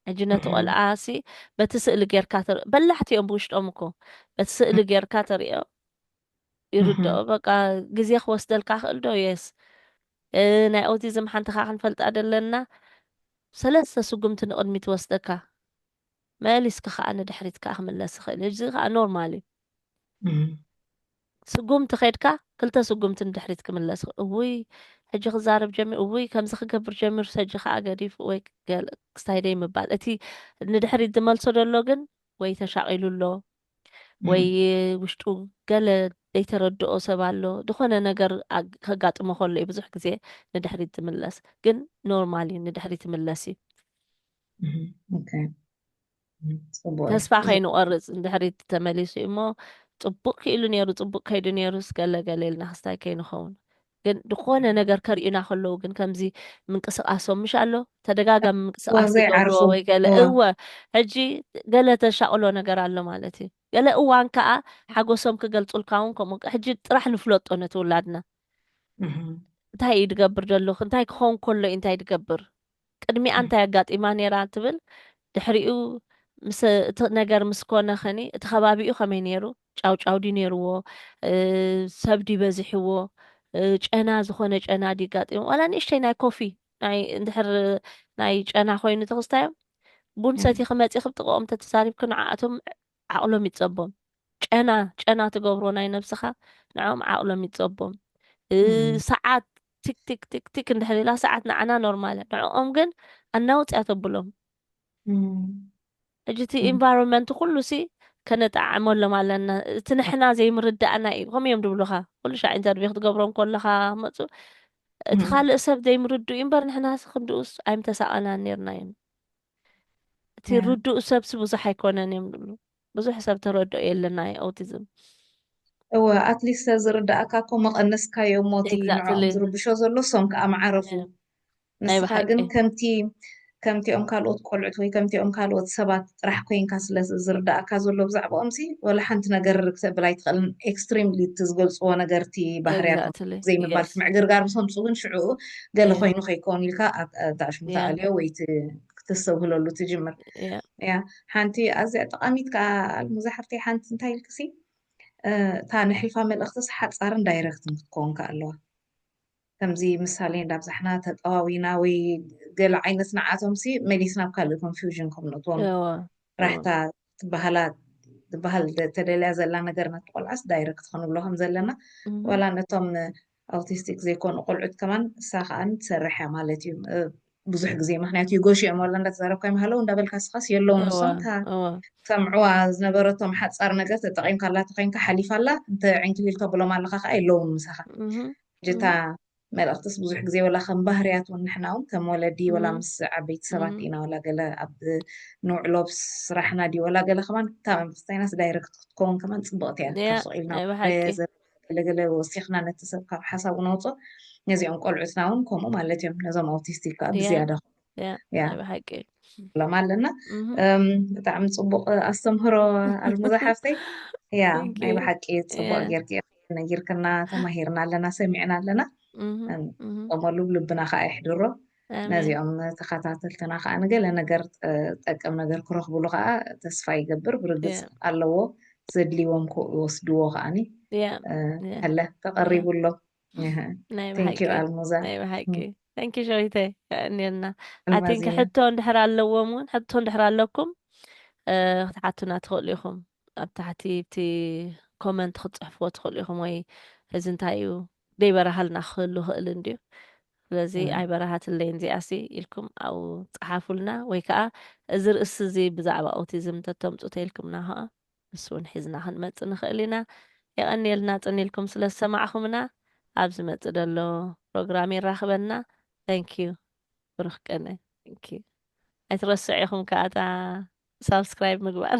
ሕጂ ነቲ ቆልዓ ሲ በቲ ስእሊ ጌርካ ተርኢ በላሕቲ እዮም ብውሽጦም እኮ በቲ ስእሊ ጌርካ ተርእዮ ይርድኦ በቃ ግዜ ክወስደልካ ክእል ዶ የስ ናይ ኦቲዝም ሓንቲ ካ ክንፈልጣ ደለና ሰለስተ ስጉምቲ ንቕድሚ ትወስደካ መሊስኪ ከኣ ንድሕሪት ከኣ ክምለስ ይኽእል እዩ እዚ ከኣ ኖርማል እዩ ስጉምቲ ከድካ ክልተ ስጉምቲ ንድሕሪት ክምለስ እውይ ሕጂ ክዛረብ ጀሚሩ እውይ ከምዚ ክገብር ጀሚሩ ሰጂ ከኣ ገዲፉ ወይ ክስታይ ደይ ምባል እቲ ንድሕሪት ዝመልሶ ደሎ ግን ወይ ተሻቂሉ ኣሎ ወይ ውሽጡ ገለ ዘይተረድኦ ሰብ ኣሎ ዝኾነ ነገር ከጋጥሞ ከሎ እዩ ብዙሕ ግዜ ንድሕሪት ዝምለስ ግን ኖርማል እዩ ንድሕሪት ይምለስ እዩ ተስፋ ከይንቆርፅ ንድሕሪት ተመሊሱ እዩ እሞ ፅቡቅ ክኢሉ ነይሩ ፅቡቅ ከይዱ ነይሩ ስገለገለ ኢልና ክስታይ ከይንኸውን ግን ዝኾነ ነገር ከርእዩና ከለዉ ግን ከምዚ ምንቅስቃሶም ምሽ ኣሎ ተደጋጋሚ ምንቅስቃስ ይገብርዎ ወይ ገለ እወ ሕጂ ገለ ተሻቅሎ ነገር ኣሎ ማለት እዩ ገለ እዋን ከዓ ሓጎሶም ክገልፁልካ እውን ከምኡ ሕጂ ጥራሕ ንፍለጦ ነቲ ውላድና እንታይ እዩ ድገብር ደለኹ እንታይ ክኸውን ከሎ እዩ እንታይ ድገብር ቅድሚኣ እንታይ ኣጋጢማ ነይራ ትብል፣ ድሕሪኡ ምስ እቲ ነገር ምስ ኮነ ኸኒ እቲ ኸባቢኡ ከመይ ነይሩ፣ ጫውጫው ድዩ ነይርዎ፣ ሰብ ድዩ በዚሕዎ፣ ጨና ዝኾነ ጨና ድዩ ኣጋጢሙ፣ ዋላ ንእሽተይ ናይ ኮፊ ናይ እንድሕር ናይ ጨና ኮይኑ ተኽስታዮም ቡን ሰቲኺ መጺኺ ብ ጥቕኦም ተተዛሪብኪ ንዓኣቶም ዓቕሎም ይጸቦም ጨና ጨና ትገብሮ ናይ ነብስኻ ንዕኦም ዓቕሎም ይጸቦም ሰዓት ቲክቲክ ቲክቲክ እንድሕር ኢላ ሰዓት ንዓና ኖርማል ንዕኦም ግን ኣናውፅያ ተብሎም ሕጂ እቲ ኢንቫይሮንመንት ኩሉ ሲ ከነጣዕመሎም ኣለና እቲ ንሕና ዘይምርዳእና እዩ ከምኡ እዮም ድብሉኻ ኩሉ ሻዕ ኢንተርቪው ክትገብሮ ከለኻ መፁ እቲ ካልእ ሰብ ዘይምርድኡ እምበር ንሕና ክንድኡስ ኣይምተሳቐናን ነርና እዩ እቲ ርዱእ ሰብሲ ብዙሕ ኣይኮነን እዮም ዝብሉ ብዙሕ ሰብ ተረድኦ የለና ዩ ኣውቲዝም እወ ኣትሊስት ዝርዳእካ እኮ መቐነስካዮ እሞ እቲ ንዕኦም ዝርብሾ ዘሎ ሶም ከዓ መዓረፉ ንስኻ ግን ከምቲ ከምቲኦም ካልኦት ቆልዑት ወይ ከምቲኦም ካልኦት ሰባት ጥራሕ ኮይንካ ስለ ዝርዳእካ ዘሎ ብዛዕባኦም ሲ ወላ ሓንቲ ነገር ክተብል ኣይትኽእልን ኤክስትሪምሊ እቲ ዝገልፅዎ ነገር እቲ ባህርያት ዘይምባል ምዕግርጋር ምስምፁ ግን ሽዑ ገለ ኮይኑ ከይከውን ኢልካ ኣብታ ኣሽሙታ ኣልዮ ወይ ክተስተብህለሉ ትጅምር እያ ሓንቲ ኣዝያ ጠቓሚት ከዓ ኣልሙዛ ሓፍተይ ሓንቲ እንታይ ኢልክሲ እታ ንሕልፋ መልእኽትስ ሓፃርን ዳይረክትን ክትከውን ከዓ ኣለዋ ከምዚ ምሳሌ እንዳብዛሕና ተጠዋዊና ወይ ገለ ዓይነት ንዓቶምሲ መሊስና ብ ካልእ ኮንፊውዥን ከም ነትዎም ራሕታ ትበሃላ ትበሃል ተደልያ ዘላ ነገር ነቲ ቆልዓስ ዳይረክት ክንብሎ ከም ዘለና ዋላ ነቶም ኣውቲስቲክ ዘይኮኑ ቆልዑት ከማን እሳ ከኣን ትሰርሕ እያ ማለት እዩ ብዙሕ ግዜ ምክንያቱ ይጎሽኦም ዋላ እንዳተዛረብካ ይመሃለው እንዳበልካ ስኻስ የለውን ንሶም እታ ሰምዕዋ ዝነበረቶም ሓፃር ነገር ተጠቂምካ ኣላ ተኮይንካ ሓሊፋ ኣላ እንተ ዕንኪሊል ተብሎም ኣለካ ከዓ የለውን ምሳኻ ጅታ መልእኽትስ ብዙሕ ግዜ ወላ ከም ባህርያት እውን ንሕና እውን ከም ወለዲ ወላ ምስ ዓበይቲ ሰባት ኢና ወላ ገለ ኣብ ንውዕሎ ስራሕና ድዩ ወላ ገለ ከማን እታ መምክስታይናስ ዳይረክት ክትከውን ከማን ፅብቕቲ እያ ካብ ስቕ ኢልና ገለ ገለ ወሲኽና ነቲ ሰብ ካብ ሓሳቡ ነውጽኦ ነዚኦም ቆልዑትና እውን ከምኡ ማለት እዮም ነዞም ኣውቲስቲክ ከዓ ብዝያዳ ብሓቂ ሎም ኣለና ብጣዕሚ ፅቡቅ ኣስተምህሮ ኣልሙዛ ሓፍተይ ያ ናይ ብሓቂ ፅቡቅ ጌርክ ነጊርክና ተማሂርና ኣለና ሰሚዕና ኣለና ንጠመሉ ልብና ከዓ ይሕድሮ ነዚኦም ተኸታተልትና ከዓ ንገለ ነገር ጠቅም ነገር ክረኽብሉ ከዓ ተስፋ ይገብር ብርግፅ ኣለዎ ዘድልዎም ክወስድዎ ከዓኒ ከለ ተቐሪቡ ኣሎ ቴንኪዩ ኣልሙዛ ንኪ ሸዊተ እኒና ኣቲንኪ ሕቶ እንድሕር ኣለዎም እውን ሕቶ እንድሕር ኣለኩም ክትሓቱና ትኽእሉ ኢኹም ኣብ ታሕቲ እቲ ኮመንት ክትፅሕፍዎ ትኽእሉ ኢኹም ወይ እዚ እንታይ እዩ ደይበራሃልና ክህሉ ይኽእል እንድዩ ስለዚ ኣይበራሃትለይን እዚኣሲ ኢልኩም ኣብኡ ጸሓፉልና ወይ ከኣ እዚ ርእሲ እዚ ብዛዕባ ኦቲዝም ተተምጹ ተይልኩምና ከኣ ንሱ ውን ሒዝና ክንመጽእ ንኽእል ኢና የቐንየልና ጽን ኢልኩም ስለ ዝሰማዕኹምና ኣብ ዝመጽእ ደሎ ፕሮግራም የራኽበና Thank you ብሩኽ ቅነ Thank you ኣይትረስዑ ኢኹም ከኣ እታ ሳብስክራይብ ምግባር።